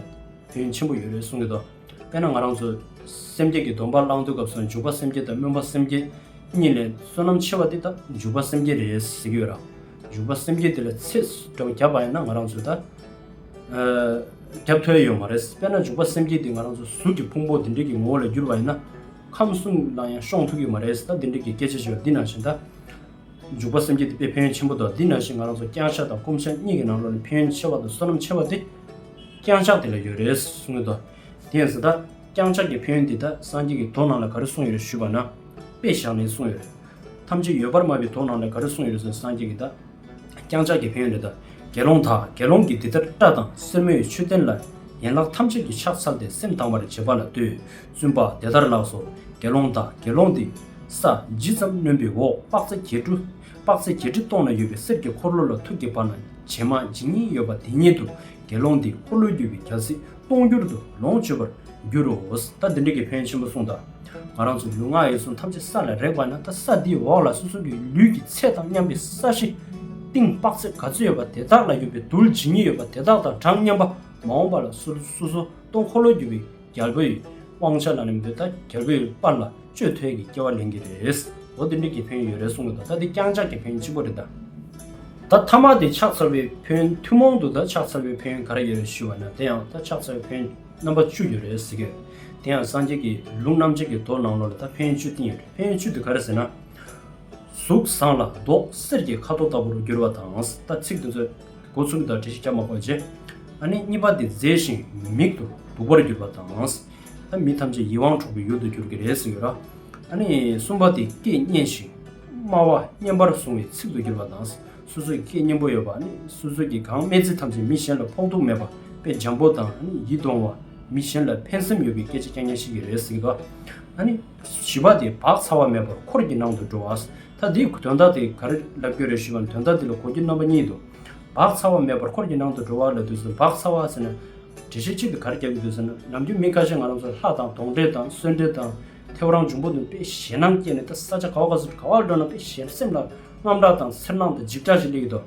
བུན་ཆེན་པོ་ཡོད་རེད་གསུང་གི་འདུག་དཔེར་ན་ང་རང་ཚོ། སེམས་བསྐྱེད་ཀྱི་སྡོམ་པ་བླང་དུས་སྐབས་སུ་འཇུག་པ་སེམས་བསྐྱེད་དང་སྨོན་པ་སེམས་བསྐྱེད། གཉིས་ལས་བསོད་ནམས་ཆེ་བ་འདི་ད་འཇུག་པ་སེམས་བསྐྱེད་རེད་ཟེར་གྱི་ཡོད་རང། འཇུག་པ་སེམས་བསྐྱེད་འདི་ལ་ཚེ་འདྲ་བོ་བརྒྱབ་པ་ཡིན་ན་ང་རང་ཚོ་ད། བརྒྱབ་ཐོས་ཡོད་མ་རེད་དཔེར་ན་འཇུག་པ་སེམས་བསྐྱེད་འདི་ང་རང་ཚོ་གཟུགས་ཀྱི་ཕུང་པོ་འདི་འདྲིག་གི་ངོ་བོ་ལ་བསྒྱུར་བ་ཡིན་ན། ཁམས་གསུམ་ལ་ཡང་ཤོང་ཐུབ་ཀྱི་མ་རེད་ད་འདི་འདྲིག་གི་སྐད་ཆ་བྱས་པ་འདི་ནང་བཞིན་ད། འཇུག་པ་སེམས་བསྐྱེད་དེ་དཔེ་ཕན་ཡོན་ཆེན་པོ་དང་འདི་ནང་བཞིན་ང་རང་ཚོ་བརྐྱངས་ཕྱག་དང་སྐོམ་ཕྱག་གཉིས་ཀྱི་ནང་ལོགས་ནས་ཕན་ཡོན་ཆེ་བ་དང་བསོད་ནམས་ཆེ་བ་དེ། བརྐྱངས་ཕྱག་དེ་ལ་ཡོད་རེད་གསུངས་ཡོད་དོ། དེ་ཡིན་ཟེར་ད། བརྐྱངས་ཕྱག་གི་ཕན་ཡོན་འདི་ད་སངས་རྒྱས་ཀྱི་དོ་ནང་ལ་ག་རེ་གསུངས་ཡོད་ཞུས་པ་ན། དཔེ་བཞག་ནས་གསུངས་ཡོད། ཐམས་ཅད་ཡོད་པར་སྨྲ་བའི་དོ་ནང་ལ་ག་རེ་གསུངས་ཡོད་ཟེར་སངས་རྒྱས་ཀྱི་ད། བརྐྱངས་ཕྱག་གི་ཕན་ཡོན་འདི་ད། དགེ་སློང་དག་དགེ་སློང་གིས་འདི་ལྟར་སྐྲ་དང་སེན་མོ་ཡི་མཆོད་རྟེན་ལ་ཡན་ལག་ཐམས་ཅད་ཀྱིས་ཕྱག་འཚལ་ཏེ་སེམས་དང་བར་བྱེད་པ་ལ་ལྟོས་བཙུན་པ་དེ་ལྟར་ལགས་སོ། དགེ་སློང་དག་དགེ་སློང་འདི། ས་ཇི་ཙམ་གནོན་པའི་འོག་དཔག་ཚད་བརྒྱད་བཀྲུ། དཔག་ཚད་བརྒྱད་ཁྲི་སྟོང་ན་ཡོད་པའི་གསེར་གྱི་འཁོར་ལོ་ལ་ཐུག་གི་བར་ན་བྱེ་མ་ཇི་སྙེད་ཡོད་པ་དེ་སྙེད་དུ་དགེ་སློང་འདིས་འཁོར་ལོའི་རྒྱུ་བའི་གྱ་སྲི་སྟོང་འགྱུར་དུ་ལོངས་སྤྱོད་པར་འགྱུར་རོ། ད་འདི་འདྲ་གི་ཕན་ཆེན་པོ་གསུངས་དང། ང་རང་ཚོ་ལུས་ངག་ཡིད་གསུམ་ཐམས་ཅད་ས་ལ་རེག་པ་ན་ད་ས་འདིའི་འོག་ལ་སོ་སོ་གི་ལུས་ཀྱི་ཚད་དང་མཉམ་པའི་ས་གཞི། སྟེང་དཔག་ཚད་ག་ཚོད་ཡོད་པ་དེ་དག་ལ་ཡོད་པའི་རྡུལ་ཇི་སྙེད་ཡོད་པ་དེ་དག་དང་གྲངས་མཉམ་པ་མ་འོངས་པ་ལ་སོ་སོ་སྟོང་འཁོར་ལོའི་རྒྱུ་བའི་རྒྱལ་པོ་ཡི་དབང་ཆ་ལ་ནི་མི་འདོད་ད་རྒྱལ་པོ་ཡི་པར་ལ་སྤྱོད་ཐོས་ཀྱི་སྐྱེ་བ་ལེན་གྱི་རེད། འོ་དེ་འདྲའི་གྱི་ཕན་ཡོད་རེད་གསུང་གི་འདུག་ད་དེ་རྐྱང་ཆགས་ཀྱི་ཕན་ཅི་པོ་རེད་ད། ད་ཐ་མག་དེ་ཕྱག་འཚལ་བའི་ཕན་ཐུན་མོང་དུ་ད་ཕྱག་འཚལ་བའི་ཕན་ག་རེ་ཡོད་རེད་ཞུས་བ་ན་དེ་ཡང་ད་ཕྱག་འཚལ་བའི་ཕན་རྣམ་པ་བཅུ་ཡོད་རེད་ཟེར་གྱི་ཡོད། དེ་ཡང་སངས་རྒྱས་ཀྱི་ལུང་རྣམ་འབྱེད་ཀྱི་མདོ་ནང་ལོ་ལ་ད་ཕན་བཅུ་བསྟན་ཡོད་རེད་ཕན་བཅུ་དེ་ག་རེ་ཟེར་ན། གཟུགས་བཟང་ལ་མདོག་གསེར་གྱི་ཁ་དོག་ལྟ་བུར་འགྱུར་བ་དང་ད་ཚིག་དེ་ཚོས། སྒོ་ཚུགས་དང་བྲེ་ཞིག་སྐྱ་མ་འཁོར་རྗེས། ཨ་ནི་གཉིས་པ་འདི་མཛེས་ཤིང་མི་མིག་ཏུ་སྡུག་པར་གྱུར་པ་དང། ཨ་མི་ཐམས་ཅད་ཡིད་དབང་འཕྲོག་པའི་ཡུལ་དུ་འགྱུར་གྱི་རེད་ཟེར་ཡོད་ལ། ཨ་ནི་གསུམ་པ་འདི་སྐད་སྙན་ཞིང་སྨྲ་བ་སྙན་པར་བཟུང་བའི་ཚིག་ཏུ་གྱུར་པ་དང། སོ་སོའི་སྐད་སྙན་པོ་ཡོད་པ་ནི་སོ་སོའི་གི་གང་སྨྲས་ཚིག་ཐམས་ཅད་མི་གཞན་ལ་ཕོག་ཐུག་མེད་པ་དཔེ་འཇམ་པོ་དང་ཡིད་དུ་འོང་བ། མི་གཞན་ལ་ཕན་སེམས་ཡོད་པའི་སྐད་ཆ་སྐྱ་སྙན་ཞིག་གི་རེད་ཟེར་གི་འདུག་ཨ་ནི་བཞི་པ་འདི་བག་ཚ་བ་མེད་པར་འཁོར་གྱི་ནང་དུ་འགྲོ་བ། ད་དེའི་དོན་དག་དེ་ག་རེ་ལབ་རྒྱུ་རེད་ཞུས་པ་ན་དོན་དག་འདི་ལ་གོ་རྒྱུ་རྣམ་པ་གཉིས་འདུག་བག་ཚ་བ་མེད་པར་འཁོར་གྱི་ནང་དུ་འགྲོ་བ་ལ་དུས་སུ་བག་ཚ་བ་ཟེར་ན། དྲི་ཞིམ་ཆེད་དུ་ག་རེ་རྒྱག་གི་འདུག་ཟེར་ན་ནམ་རྒྱུན་མི་ཁ་ཤས་ང་རང་ཚོ་ལྷ་དང་དོང་འདྲེ་དང་གསོན་འདྲེ་དང་ཐེའུ་རང་འབྱུང་པོ་དང་དཔེ་ཞེད་སྣང་སྐྱེས་ནས་ད་ས་ཆ་ག་བ་ག་ཚོད་དུ་ག་བ་འགྲོ་ན་དཔེ་ཞེད་སེམས་ལ་རྔམ་དྲག་དང་འཚེར་སྣང་དང་འཇིགས་སྐྲག་ཅིག་སླེབས་ཡོད་དོ།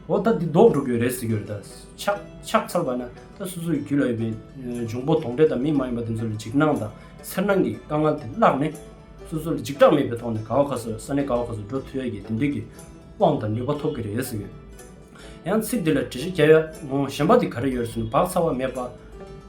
འོ་ད་འདི་ལྡོག་འགྲོ་དགོས་རེད་ཟེར་གྱི་རེད་ད། ཕྱག་འཚལ་བ་ན་ད་སོ་སོའི་རྒྱུད་ལ་ཡོད་པའི་འབྱུང་པོ་དོང་འདྲེ་དང་མི་མ་ཡིན་པ་དེ་ཚོ་ལ་འཇིགས་སྣང་དང་འཚེར་སྣང་གི་དཀའ་ངལ་དེ་བརླགས་ནས། སོ་སོ་ལ་འཇིགས་སྐྲག་མེད་པའི་ཐོག་ནས་ག་བ་ག་སོ་ས་ནས་ག་བ་ག་སོ་འགྲོ་ཐུབ་ཡ་གྱི་དེ་འདོད་ཀྱི་དབང་དང་ནུས་པ་ཐོབ་གྱི་རེད་ཟེར་གྱི། ཡང་ཚིག་འདི་ལ་འགྲེལ་བཤད་རྒྱ་ཡག་ངོ་གཞན་པ་དེ་ག་རེ་ཡོད་རེད་ཟེར་ན་བག་ཚ་བ་མེད་པ།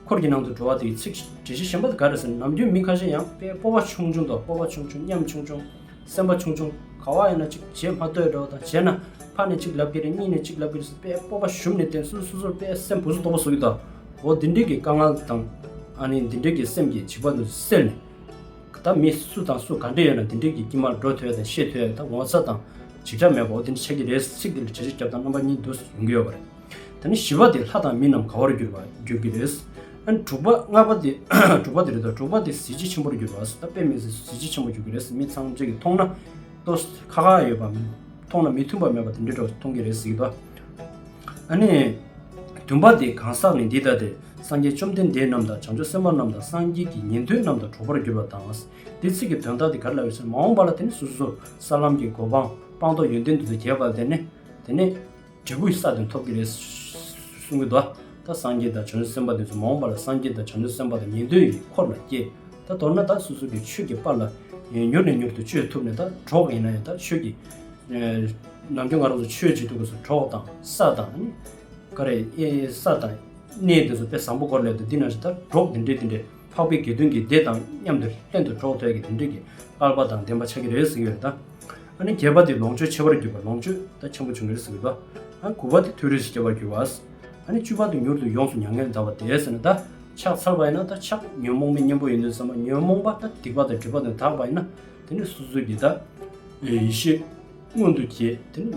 འཁོར་གྱི་ནང་དུ་འགྲོ་བ་དེའི་ཚིག་འགྲེལ་བཤད་གཞན་པ་དེ་ག་རེ་ཟེར་ན་ནམ་རྒྱུན་མི་ཁ་ཤས་ཡང་པའི་སྤོབས་པ་ཆུང་ཆུང་དང་སྤོབས་པ་ཆུང་ཆུང་ཉམས་ཆུང་ཆུང། སེམས་པ་ཆུང་ཆུང་ག་བ་ཡིན་ན་ཅིག་བྱེད་མ་ལྟོས་འགྲོ་བ་དང་བྱས་ན་ཕར་ནས་ཅིག་ལབ་ཀྱི་རེད་གཉིས་ནས་ཅིག་ལབ་ཀྱི་རེད་ཟེར་པས་སྤོབས་པ་ཞུམ་ནས་བསྟེན་སུ་སོ་སོར་པས་སེམས་བུ་སུ་སྟོང་པ་བཟོ་གི་དང་འོ་འདི་འདྲིའི་གི་དཀའ་ངལ་དང་ཨ་ནི་འདི་འདྲིའི་གི་སེམས་ཀྱི་བྱིས་པ་དུ་སེར་ནས་གི་ད་མི་སུ་དང་སུ་ག་འདྲེ་ཡོད་ན་འདི་འདྲིའི་གི་དཀྱིལ་མར་འགྲོ་ཐོས་དང་ཤེས་ཐོས་ད་ངོ་ཚ་དང་འཇིགས་སྐྲག་མེད་པ་འོ་འདི་འདྲི་བྱེད་ཀྱི་རེད་ཟེར་ཚིག་འདི་ལ་བྱེད་ཆོས་རྒྱབ་དང་རྣམ་པ་གཉིས་འདུག་ཟེར་ཡོང་གི་ཡོད་པ་རེད། ད་ནི་བཞི་པ་དེ་ལྷ་དང་མི་རྣམས་གང་བར་གྱུར་པ་འགྱུར་གྱི་རེད། དྲུག་པ་ལྔ་པ་དེ་དྲུག་པ་དེ་རེད་དོ་དྲུག་པ་དེ་གཟི་བརྗིད་ཆེན་པོར་འགྱུར་བ་ད་དཔེ་མེད་ཟེར་གཟི་བརྗིད་ཆེན་པོ་འགྱུར་གྱི་རེད་མི་ཚང་ཚིག་གིས་མཐོང་ན་ལྟོ་ཁ་ཁ་ཡོད་པ་མཐོང་ན་མི་མཐུན་པ་མེད་པ་དེ་འདྲའི་གྲོགས་སུ་མཐོང་གི་རེད་གཟིགས་དང། ཨ་ནི། བདུན་པ་དེ་གང་ཟག་ནི་འདི་ལྟ་སྟེ་སངས་རྒྱས་བཅོམ་ལྡན་འདས་རྣམས་དང་བྱང་ཆུབ་སེམས་དཔའ་རྣམས་དང་སངས་རྒྱས་ཀྱི་ཉན་ཐོས་རྣམས་དང་གྲོགས་པར་གྱུར་པ་དང། དེ་ཚིག་གི་དོན་དག་དེ་ག་ལ་ཡོད་ཟེར་མ་འོངས་པ་ལ་དེ་ནི་སོ་སོ་སོར་ས་ལམ་གྱི་གོ་འཕང་སྤངས་རྟོགས་ཡོན་ཏན་དུ་འདི་གྱེས་པ་ལ་དེ་ནི་དེ་ནི། འབྲས་བུ་ཡི་ས་དེ་འཐོབ་ཀྱི་རེད། གསུང་གི། ད་ལྟ་སངས་རྒྱས་དང་བྱང་ཆུབ་སེམས་དཔའ་དེ་ཚོ་མ་འོངས་པ་ལ་སངས་རྒྱས་དང་བྱང་ཆུབ་སེམས་དཔའ་དང་ཉན་ཐོས་ཀྱི་འཁོར་ལ་སྐྱེ། ད་མདོར་ན་ད་སོ་སོ་ཀྱི་ཆོས་ཀྱི་པར་ལ་མྱུར་ནས་མྱུར་དུ་བཅོས་ཐུབ་ནས་ད་གྲོགས་ཡིན་ན་ཡང་ད་ཆོས་ཀྱི། ནམ་རྒྱུན་ང་རང་ཚོ་ཆོས་བྱེད་དུས་ཀྱི་སོ་གྲོགས་དང་ས་དང། ཀ་རེ། ས་དང། གནས་དེ་ཚོ་དཔེ་བཟང་པོ་སྐོར་ལས་དུ་འདི་ན་ད་གྲོགས་དེ་འདྲས་དེ་འདྲས་འཕགས་པའི་དགེ་འདུན་གྱི་སྡེ་དང་མཉམ་དུ་ལྷན་དུ་གྲོགས་ཐོད་ཀྱི་དེ་འདྲས་ཀྱི་ཀ་ལ་པ་དང་ལྡན་པ་ཆགས་ཀྱི་རེད་ཟེར་གྱི་ཡོད་རེད་ད། ཨ་ནི་རྒྱས་པ་དེ་ལོངས་སྤྱོད་ཆེ་བར་གྱུར་པ་ལོངས་སྤྱོད་དག་ཆེན་པོ་བྱུང་ངེར་ཟེར་བས་དོ། ཨ་དགུ་བ་དེ་ཐོས་རིས་སྐྱེ་བར་གྱུར་བ། ཨ་ནི་བཅུ་བ་དེ་མྱུར་དུ་ཡོངས་སུ་མྱ་ངན་འདའ་བ་དེ་ཟེར་ན་ད་ཕྱག་འཚལ་བ་ཡིན་ན་ད་ཕྱག་ཉོན་མོངས་པའི་གཉེན་པོ་ཡིན་དུས་སམ་ཉོན་མོངས་པ་ད་སྡིག་པ་དང་སྒྲིབ་པ་དང་དག་པ་ཡིན་ན་དེ་ནི་སོ་སོའི་དགེ། ད་ཡེ་ཤེས་མངོན་དུ་བསྐྱེད་དེ་ནི་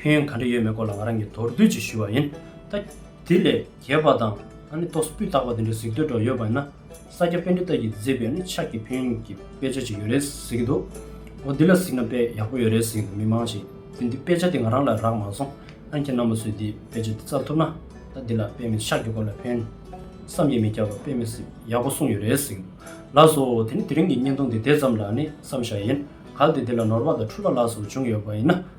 ཕན་ཡོན་ག་འདྲ་ཡོད་མེད་སྐོར་ལ་ང་རང་གིས་མདོར་བསྡུས་ཀྱིས་ཞུ་བ་ཡིན། ད་དེ་ལས་གྱེས་པ་དང་ཨ་ནེ་ཏོག་སྤུས་དག་པ་དེ་འདྲའི་གཟིགས་འདོད་འདྲ་ཡོད་པ་ཡིན་ན། ས་སྐྱ་དཔེ་འབྲི་ཐབས་ཀྱིས་མཛེས་པའི་ནི་ཕྱག་གི་ཕན་ཡོན་གྱི་དཔེ་ཆ་ཅིག་ཡོད་རེད་ཟེར་གྱི་འདུག་འོ་འདི་ལ་གཟིགས་ན་དཔེ་ཡག་པོ་ཡོད་རེད་ཟེར་གྱི་འདུག་མི་མང་ཞིག་གིས་འདི་དཔེ་ཆ་འདི་ང་རང་ལ་རག་མ་སོང་ཨ་མཁྱེན་རྣམ་པ་ཚོས་འདིས་དཔེ་ཆ་འདི་བཙལ་ཐུབ་ན་ད་འདི་ལ་དཔེ་མེད་ཕྱག་གི་སྐོར་ལ་ཕན། བསམ་ཡས་མི་སྐྱ་བ་དཔེ་མེད་ཟིག་ཡག་པོ་གསུངས་ཡོད་རེད་ཟེར་གྱི་འདུག་ལགས་སོ་དེ་ནི་དེ་རིང་གི་བརྙན་ཐུང་འདི་དེ་ཙམ་ལ་ནི་བསམ་བཞག་ཡིན་གལ་ཏེ་འདི་ལ་ནོར་བ་དང་འཁྲུལ་བ་ལགས་སོ་བྱུང་ཡོད་པ་ཡིན་ན།